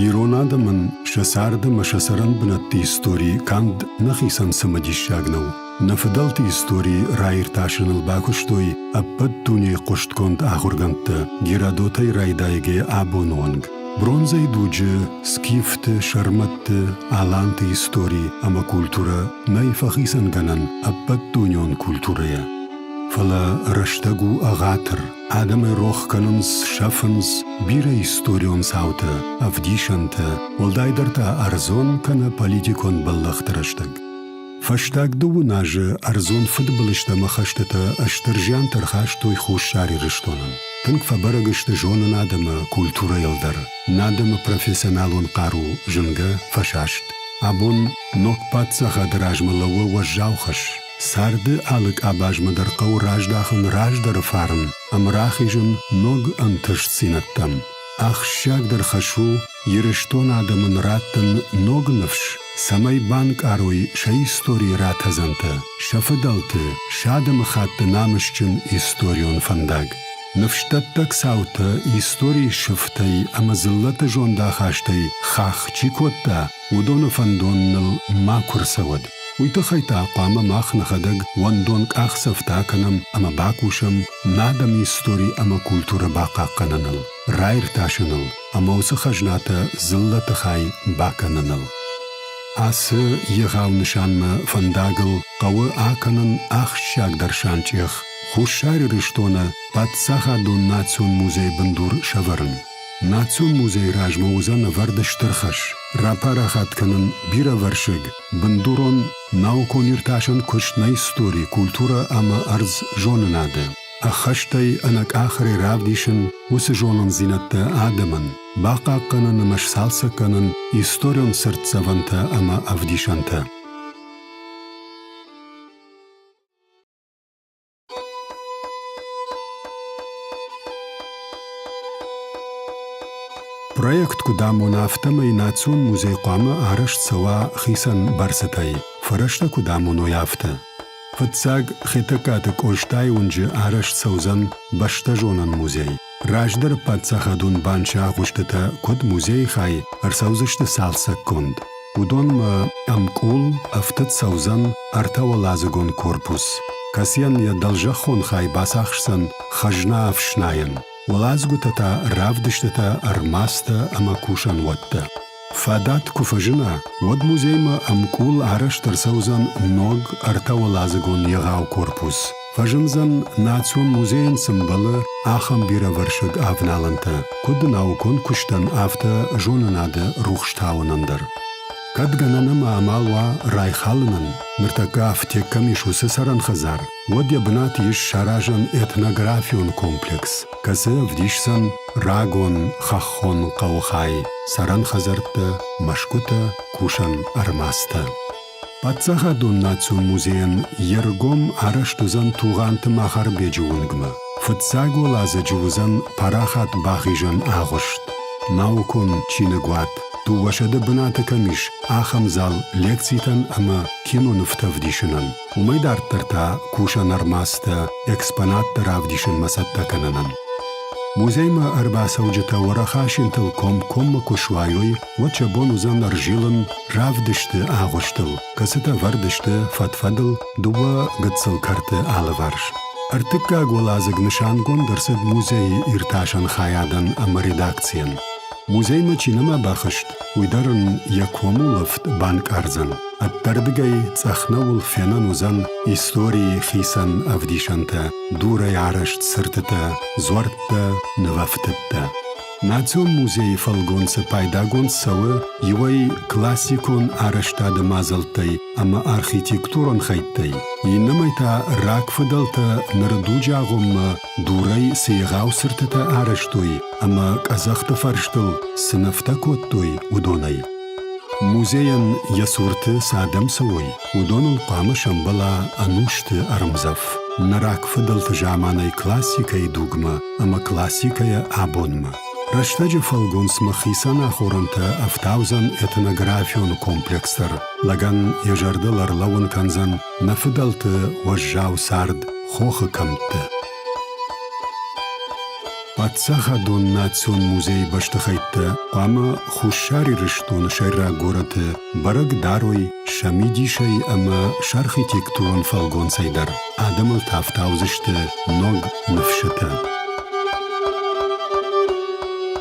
Ирон адӕмӕн сӕ царды ӕмӕ сӕ цӕрӕн бынӕтты истори канд нӕхицӕн цымыдисаг нӕу. Нӕ фыдӕлты истории раиртасыныл бакуыстой ӕппӕт дунейы хъуыстгонд ахуыргӕндтӕ Геродотӕй райдайгӕ абоны онг. Бронзӕйы дуджы скифты, сӕрмӕтты, аланты истори ӕмӕ культурӕ нӕй фӕхицӕнгӕнӕн ӕппӕтдунеон культурӕйӕ. Фӕлӕ рӕстӕг у ӕгъатыр, адӕмы рох кӕнынц, сӕфынц бирӕ историон цаутӕ, ӕвдисӕнтӕ, уӕлдайдӕр та ӕрдзон кӕнӕ политикон бӕллӕхты рӕстӕг. Фӕстаг дыууын азы ӕрдзон фыдбылызты ӕмӕ хӕстытӕ стыр зианты ӕрхастой Хуссар Ирыстонӕн. Тынг фӕбӕрӕг сты зонынад ӕмӕ культурӕйыл дӕр. Нӕ адӕмы профессионалон хъару зынгӕ фӕсаст. Абон ног паддзахады размӕ лӕууы уӕззау хӕс. Царды алы къабазмӕ дӕр хъӕуы раздахын раздӕры фарн ӕмӕ рахизын ног ӕнтыстдзинӕдтӕм. Ахсджиагдӕр хӕс у Ирыстон адӕмӕн раттын ног ныфс, цӕмӕй банкъарой сӕ историйы ратӕдзӕнтӕ, сӕ фыдӕлты, сӕ адӕмыхатты намысджын историон фӕндаг. Ныфсдӕттӕг цаутӕ историйы сыфтӕй ӕмӕ дзыллӕты зондахастӕй хахх чи кодта, уыдоны фӕндон ныл макуы рцӕуӕд. Уый тыххӕй та хъуамӕ мах нӕхӕдӕг уӕндон къахдзӕфтӕ кӕнӕм ӕмӕ бакусӕм нӕ адӕмы истори ӕмӕ культурӕ бахъахъхъӕныныл, раиртасыныл, ӕмӕ уыцы хӕзнатӕ дзыллӕты хай бакӕныныл. Ацы егъау нысанмӕ фӕндагыл хъӕуы акӕнын ахсджиагдӕр санчъех Хуссар Ирыстоны паддзахадон национ музейы бындур сӕвӕрын. Национ музейы размӕ уыдзӕн ӕвӕрд стыр хӕс рапарахат кӕнын бирӕвӕрсыг бындурон наукон-иртасӕн куыст на истори, культурӕ ӕмӕ ӕрдз зонынады. Ӕххӕстӕй ӕнӕкъахӕрӕй равдисын уыцы зонындзинӕдтӕ адӕмӕн, бахъахъхъӕнын ӕмӕ сцалцӕг кӕнын историон цыртдзӕвӕнтӕ ӕмӕ ӕвдисӕнтӕ. Проект куыд амона, афтӕмӕй национ музей хъуамӕ арӕзт цӕуа хицӕн бӕрцытӕй. Фӕрӕзтӕ куыд амоной, афтӕ. Фыццаг Хетӕгкаты Къостайы уынджы арӕзт цӕудзӕн бӕстӕзонӕн музей. Раздӕры паддзахадон банчы агъуыстытӕ куыд музейы хай ӕрцӕудзысты цалцӕггонд. Уыдонмӕ ӕмкъул ӕфтыд цӕудзӕн ӕртӕуӕладзыгон корпус, кӕцыйӕн йӕ дӕлзӕххон хай бацахсдзӕн хӕзна ӕфснайӕн. Уӕладзгуытӕ та равдыстытӕ, ӕрмадзтӕ ӕмӕ кусӕнуӕттӕ. Фадат куы фӕзына, уӕд музеймӕ ӕмкъул арӕзт ӕрцӕудзӕн ног ӕртӕуӕладзыгон егъау корпус. Фӕзындзӕн национ музейӕн цы мбӕлы, ахӕм бирӕвӕрсыг авналӕнтӕ, куыд наукон куыстӕн, афтӕ зонынады рухс тауынӕн дӕр. Кӕд гӕнӕн ӕмӕ амал уа райхалынӕн, ныртӕккӕ афтек кӕм ис, уыцы цӕрӕн хӕдзар, уӕд йӕ бынат ис саразӕн этнографион комплекс, кӕцы ӕвдисдзӕн рагон хӕххон хъӕуы хай, цӕрӕн хӕдзӕрттӕ, мӕсгуытӕ, кусӕн ӕрмадзтӕ. Паддзахадон национ музейӕн йе ргом арӕзт уыдзӕн Тугъанты Махарбеджы уынгмӕ. Фыццаг уӕладзӕджы уыдзӕн парахат бахизӕн агъуыст, наукон чиныгуат, дыууӕсӕдӕ бынаты кӕм ис, ахӕм зал лекцитӕн ӕмӕ кинонывтӕ ӕвдисынӕн. Уымӕй дарддӕр та кусӕн ӕрмадзтӕ экспонатты равдисынмӕ цӕттӕ кӕнынӕн. Музеймӕ ӕрбацӕуджытӕ уӕрӕх асинтыл комкоммӕ куы суайой, уӕд сӕ бон уыдзӕн ӕрзилын равдысты агъуыстыл, кӕцытӕ вӕрд сты фӕд-фӕдыл дыууӕ гыццыл кӕрты алыварс. Ӕртыккаг уӕладзыг нысангонд ӕрцыд музейы иртасӕн хайадӕн ӕмӕ редакцийӕн. Музеймӕ чи нӕма бахызт, уый дӕр ын йӕ комулӕфт банкъардзӕн. Ӕддӕрдыгӕй цъӕх нӕуыл фенӕн уыдзӕн историйы хицӕн ӕвдисӕнтӕ, дурӕй арӕзт цыртытӕ, дзуӕрттӕ, нывӕфтыдтӕ. Национ музейы фӕлгонцы пайдагонд цӕуы иуӕй классикон арӕзтады мадзӕлттӕй ӕмӕ архитектурон хӕйттӕй, иннӕмӕй та рагфыдӕлтӕ ныры дуджы агъоммӕ Дурӕй цы егъау цыртытӕ арӕзтой ӕмӕ къӕдзӕхты фӕрстыл цы нывтӕ кодтой, уыдонӕй. Музейӕн йӕ цурты цы адӕм цӕуой, уыдоныл хъуамӕ сӕмбӕла ӕнусты ӕрмдзӕф. Нӕ рагфыдӕлты заманай классикӕйы дугмӕ ӕмӕ классикӕйӕ абонмӕ. Рӕстӕджы фӕлгонцмӕ хицӕн ахорӕнтӕ ӕфтаудзӕн этнографион комплекс дӕр. Лӕгӕн йӕ зӕрдыл ӕрлӕууын кӕндзӕн Нӕ фыдӕлты уӕззау цард хохы кӕмтты. Паддзахадон национ музейы бӕстыхӕйттӕ хъуамӕ Хуссар Ирыстоны сӕйраг горӕты бӕрӕг дарой сӕ мидисӕй ӕмӕ сӕ архитектурон фӕлгонцӕй дӕр адӕмыл тӕфтаудзысты ног ныфсытӕ.